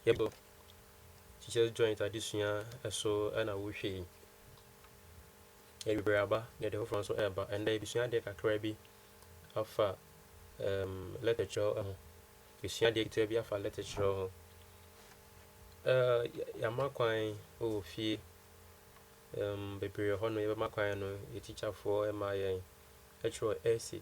Yɛbɔ Teachers Joint adesua so na wohwɛ yi. Awieeɛ aba na ɛde foforɔ nso reba. Ɛnnɛ yɛbɛsua adeɛ kakra bi afa um, lɛtɛ kyerɛw ho. Yɛsua adeɛ ketewa bi afa lɛtɛ kyerɛw ho. Uh, yɛama kwan wɔ fie um, bebree hɔ no yɛbɛma kwan no yɛ tikyafoɔ ma yɛn ɛtwerɛ ɛsi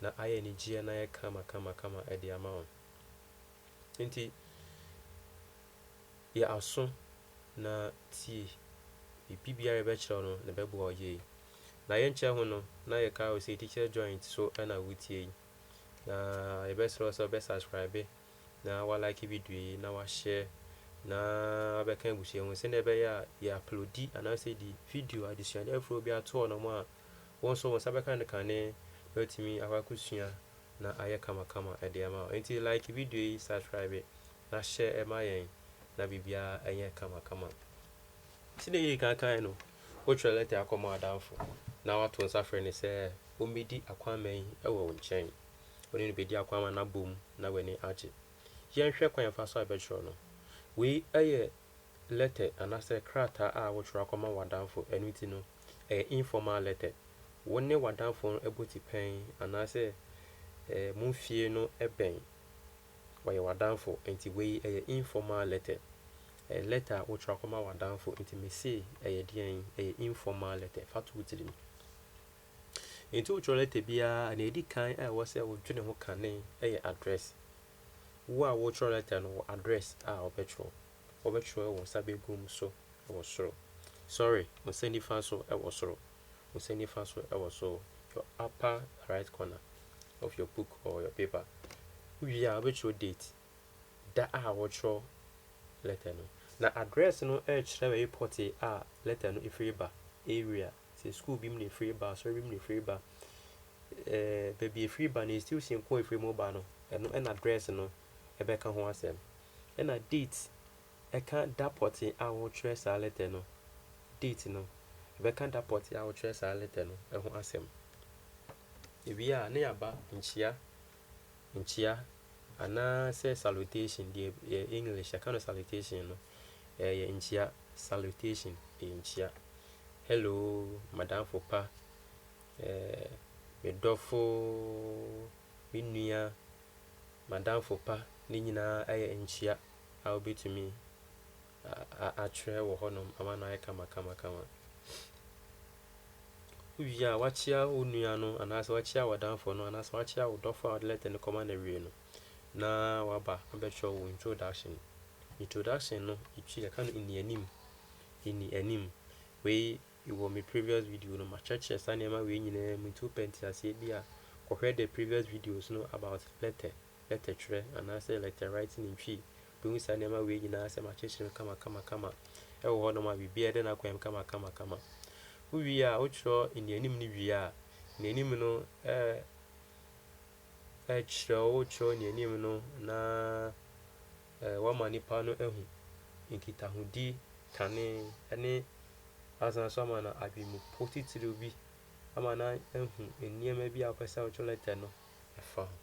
na ayɛ anigyeɛ na ayɛ kama kama kama de ama wo. Enti yɛ aso na tie. Biribiara a yɛbɛkyerɛ wo no, na ɛbɛboa wo yie. Na yɛnkyɛ ho no, na yɛka wo sɛ Teacher Joint so na wotie yi. Na yɛbɛsrɛ wo sɛ wobɛsubscribe na woalike video yi na woahyɛ na wabɛka abusua mu sɛdeɛ ɛbɛyɛ a yɛaplodi anaasɛ yɛde video adesuade afoforɔ bi ato hɔnom a Wo nso wo nsa bɛka ne kane na watumi akɔ akɔsua na ayɛ kamakama de ama wo. Nti like video yi, subscribe na share ma yɛn na biribiara nyɛ kamakama. Sɛdeɛ yɛdi kan kaeɛ no, wotwerɛ lɛtɛ akɔma w'adamfo na wato nsa frɛ no sɛ ɔmmɛdi akwamma yi wɔ wo nkyɛn. Wo ne no bɛdi akwamma no abom na w'ani agye. Yɛnhwɛ kwan fa so a yɛbɛtwerɛ no. Wei yɛ lɛtɛ anaasɛ krataa a wotwerɛ akɔma w'adamfo, ɛno nti no, ɛyɛ informal letter. Wo ne w'adamfo no bɔ tipɛn anaasɛ mo fie no bɛn, ɔyɛ w'adamfo nti wei yɛ informal letter. Ɛyɛ lɛtɛ a wotwerɛ akɔma w'adamfo nti mese ɛyɛ deɛn, ɛyɛ informal letter, fa to wo tirim. Nti wotwerɛ lɛtɛ biara a, deɛ ɛdi kan a ɛwɔ sɛ wodwene ho kane yɛ address. Wo a worekyerɛw lɛtɛ no wɔ address a wobɛkyerɛw. Wobɛkyerɛw wo nsa benkum so wɔ soro. Sorry, wo nsa nifa so wɔ soro. Wo nsa nifa so wɔ soro, your upper right corner of your book or your paper. Wowie a, wobɛkyerɛw date, da a worekyerɛw lɛtɛ no. Na address no rekyerɛ baabi pɔtee a lɛtɛ no firi ba, area. sɛ sukuu bi mu na efiri ba, asɔre bi mu na efiri ba, ɛɛ baabi a efiri ba no, institution ko a efiri mu ba no, ɛno na address no bɛka ho asɛm. Ɛna date, ɛka da pɔtee a wɔtwerɛ saa letter no, date no, ɛbɛka da pɔtee a wɔtwerɛ saa letter no ho asɛm. Ewie a, na yɛaba nkyia nkyia anaa sɛ salutation, deɛ yɛ English yɛka no salutation no, ɛyɛ nkyia, salutation, ɛyɛ nkyia. Hello, madamfo pa, eh, me dɔfo, me nua, madamfo pa, ne nyinaa ɛyɛ nkyia a wobɛtumi atwerɛ wɔ hɔnom ama no ayɛ kamakamakama. Wowie a, woakyea wo nua no anaasɛ woakyea w'adamfo no anaasɛ woakyea wo dɔfo a wode lɛtɛ no kɔma no awie no, na waba abɛtwerɛ wo introduction. Introduction no, yɛtwi yɛka no nnianim, nnianim. Wei wɔ me previous video no, makyerɛkyerɛ saa nneɛma wei nyinaa mu nti wopɛ nteaseɛ bi a, kɔhwɛ the previous videos no about lɛtɛ. lɛtɛtwerɛ anaasɛ lɛtɛwriting ntwi, wobɛhu saa nneɛma wei nyinaa sɛ makyekyere no kamakamakama wɔ hɔnom a biribiara da n'akwan mu kamakamakama. Wowie a, wotwerɛ nnianim no wie a, nnianim no kyerɛ, wotwerɛ nnianim no na woama nipa no ahu nkitahodi, kane ne asane nso ama no adwempo titiriw bi ama no ahu nneɛma bi a wopɛ sɛ wotwerɛ lɛtɛ no ɛfa ho.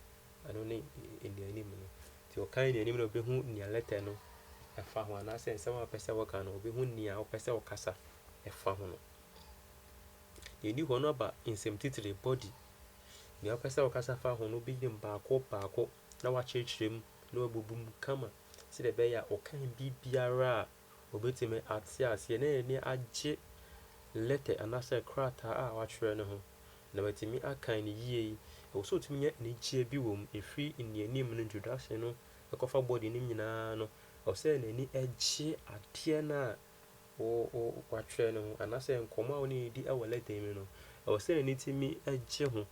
Ɛno ne nnianim no. Nti ɔka nnianim no, ɔbɛhu nea lɛtɛ no fa ho anaasɛ nsɛm a wopɛ sɛ woka no, ɔbɛhu nea wopɛ sɛ wokasa fa ho no. Deɛ ɛdi hɔ no aba nsɛm titire, body. Nea wopɛ sɛ wokasa fa ho no, wobɛyɛ mu baako baako na woakyerɛkyerɛ mu na woabubu mu kama sɛdeɛ ɛbɛyɛ a ɔka biribiara a Obetumi ate aseɛ na n'ani agye lɛtɛ anaasɛ krataa a watwerɛ no ho, na watumi akan no yie. Ɛwɔ sɛ ɔtumi nya anigyeɛ bi wɔ mu. Ɛfiri nnianim no, introduction no, kɔfa body no mu nyinaa no, ɛwɔ sɛ n'ani gye adeɛ no a wo, wo, watwerɛ no ho, anaasɛ nkɔmmɔ a wo ne no redi wɔ lɛtɛ yi mu no, ɛwɔ sɛ n'ani tumi gye ho.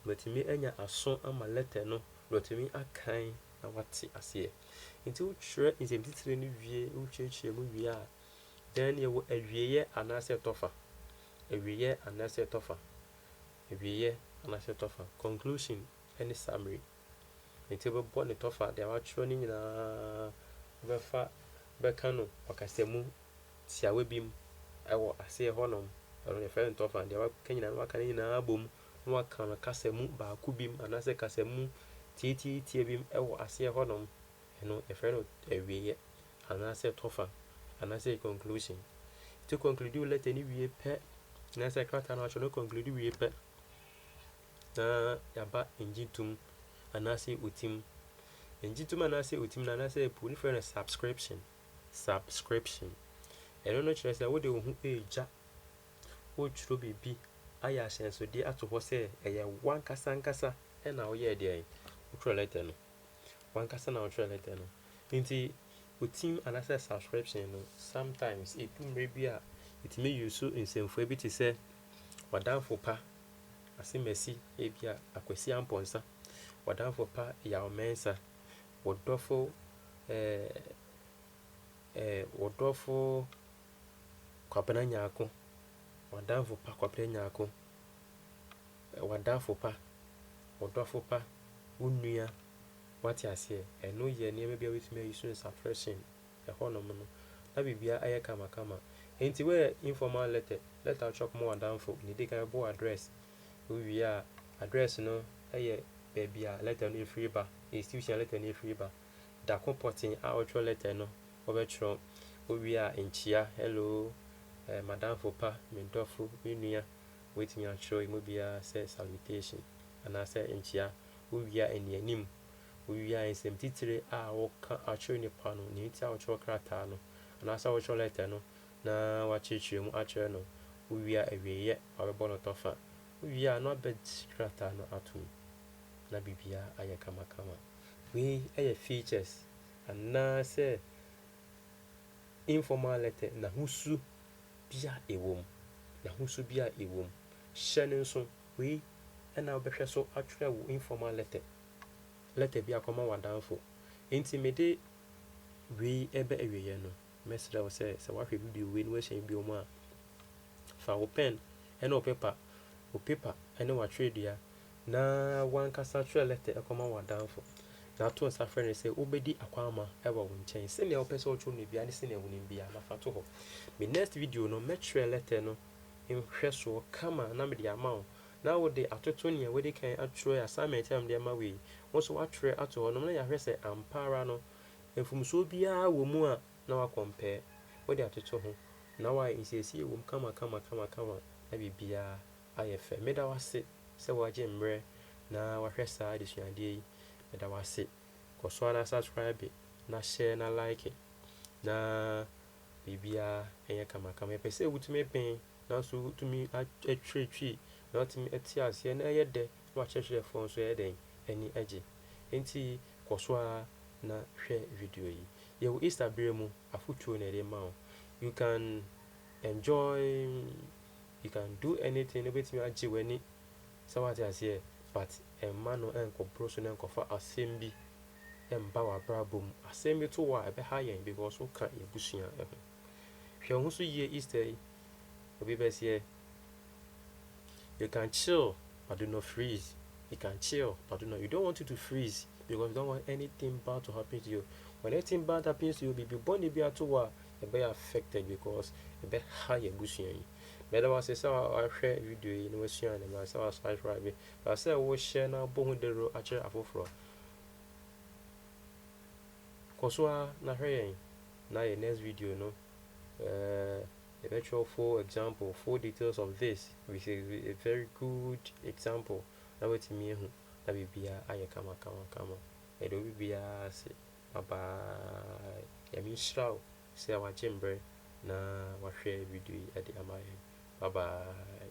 Watumi anya aso ama lɛtɛ no, na watumi akan na wate aseɛ. Nti wotwerɛ nsɛmtitire no wie, wokyerɛkyerɛ mu wie a, dɛn ne ɛwɔ awieɛ anaasɛ ɛtɔfa? Awieɛ anaasɛ ɛtɔfa? Awieɛ anaasɛ ɛtɔfa? Conclusion ne summary. Nti wobɛbɔ ne tɔfa, deɛ woatwerɛ no nyinaa wobɛfa bɛka no ɔkasamu tiawa bi mu wɔ aseɛ hɔnom. Ɛno na yɛfrɛ no tɔfa. Deɛ woaka nyinaa no waka ne nyinaa abom. na wɔaka no kasa mu baako bim anaasɛ kasa mu tiatiatia bim wɔ aseɛ hɔnom, ɛno yɛfrɛ no awieɛ anaasɛ tɔfa anaasɛ conclusion. Nti conclude wo letter no wie pɛ anaasɛ krataa no atwerɛ no conclude wie pɛ na yɛaba ngye tom anaasɛ otim. Ngye tom anaasɛ otim no anaasɛ po no frɛ no subscription. Subscription. Ɛno no kyerɛ sɛ wode wo ho ɛregya Woretwerɛ biribi ayɛ ahyɛnsodeɛ ato hɔ sɛ ɛyɛ w'ankasa ankasa na woyɛɛ deɛn? Wotwerɛ lɛtɛ no. W'ankasa na wotwerɛ lɛtɛ no. Nti wo team anaasɛ subscription no, sometimes ɛdu mmerɛ bi a ɛtumi use nsɛmfua bi te sɛ w'adamfo pa Asemasi, ebi a Akwasi Ampɔnsa, w'adamfo pa Yaw Mɛnsa, wo dɔfo ɛɛ ɛɛ wo dɔfo Kwabena Nyarko, w'adamfo pa Kwabena Nyarko, w'adamfo pa, wo dɔfo pa, wo nua, wate aseɛ, ɛno yɛ nneɛma bi a wobɛtumi ayi so no suppression, ɛhɔnom no, na biribiara ayɛ kamakama. Enti woyɛ informal letter, letter a wotwerɛ kɔma w'adamfo, deɛ ɛdi kan wobɔ address, wowie a address no yɛ baabi a letter no firi ba, institution a letter no firi ba. da ko pɔtee a ɔtwerɛ lɛtɛ no ɔbɛtwerɛ ɔwie a nkyia, hello, eh, madamfo pa, me dɔfo, me nua, wobɛtumi atwerɛ ɛmu biara sɛ salutation anaasɛ nkyia, wowie a anianim, wowie a nsɛm titire a woka akyerɛ nipa no, nea nti a wotwerɛ krataa no anaasɛ wotwerɛ lɛtɛ no na woakyerɛkyerɛ mu akyerɛ no, wowie a awieeɛ, wabɛbɔ no tɔfa, wowie a na wabɛgye krataa no atom na biribiara ayɛ kamakama. Wei yɛ features anaasɛ informal letter n'ahosu bi a ɛwom, n'ahosu bi a ɛwom. Hyɛ no nso, wei na wobɛhwɛ so atwerɛ wo informal letter, letter bi akɔma w'adamfo. Enti mede wei reba awieeɛ no, mɛsrɛ wo sɛ, sɛ woahwɛ video wei na woahyɛ bio mu a, fa wo pɛn ne wo pepa, wo pepa ne w'atwerɛdua Na w'ankasa twerɛ lɛtɛ kɔma w'adamfo, na to nsa frɛ no sɛ ɔbɛdi akwamma wɔ wo nkyɛn. Sɛnea wopɛ sɛ ɔtwerɛ no biara ne sɛnea wonim biara, na fa to hɔ. Me next video no, mɛtwerɛ lɛtɛ no nhwɛsoɔ kama na mede ama wo, na wode atoto nea wadi kan atwerɛ, assignment a mede ama wo yi, wo nso woatwerɛ ato hɔnom, na yɛahwɛ sɛ ampa ara no, mfomsoɔ biara wɔ mu a, na wa compare. Wode atoto ho, na woayɛ nsiesie wɔ mu kama kama kama kama, na biribiara. ayɛ fɛ. Meda wo ase sɛ woagye mmerɛ na woahwɛ saa adesuadeɛ yi. Meda wo ase. Kɔ so ara na subscribe na share na like na biribiara nyɛ kamakama. Yɛpɛ sɛ wotumi ben nanso wotumi atwiritwi na watumi ate aseɛ na ɛyɛ dɛ na w'akyerɛkyerɛfoɔ nso ɛyɛ dɛn? Ani gye. Enti kɔ so ara na hwɛ video yi. Yɛwɔ Easter berɛ mu afotuo na yɛde rema wo. You can. Enjoy you can do anything no bɛtumi agye w'ani sɛ woate aseɛ but mma no nkɔboro so na nkɔfa asɛm bi mba w'abrabɔ mu. Asɛm bi to wo a ɛbɛha yɛn because woka yɛn abusua ho. Hwɛ wo ho so yie Easter yi, obi bɛseɛ. you can chill but do not freeze you can chill but do not you don't want you to freeze because you don't want anything bad to happen to you when anything bad happens to you biribi bɔne bi ato wɔ a ɛbɛyɛ affected because ɛbɛha yɛ abusua yi mɛda wo ase sɛ wahwɛ video yi na wasua ne ma sɛ wasubscribe ba sɛ wohyɛ na abɔ ho dawuro akyerɛ afoforɔ kɔ so a na hwɛ yɛn na yɛ next video no ɛɛ eh, Yɛbɛtwerɛ full example, full details of this, with a a very good example na woatumi ahu na biribiara ayɛ kama kama kama. Yɛda obi biara ase. Bye bye. Nyame nhyira wo sɛ wagye mberɛ na wahwɛ video yi de ama yɛn. Bye bye.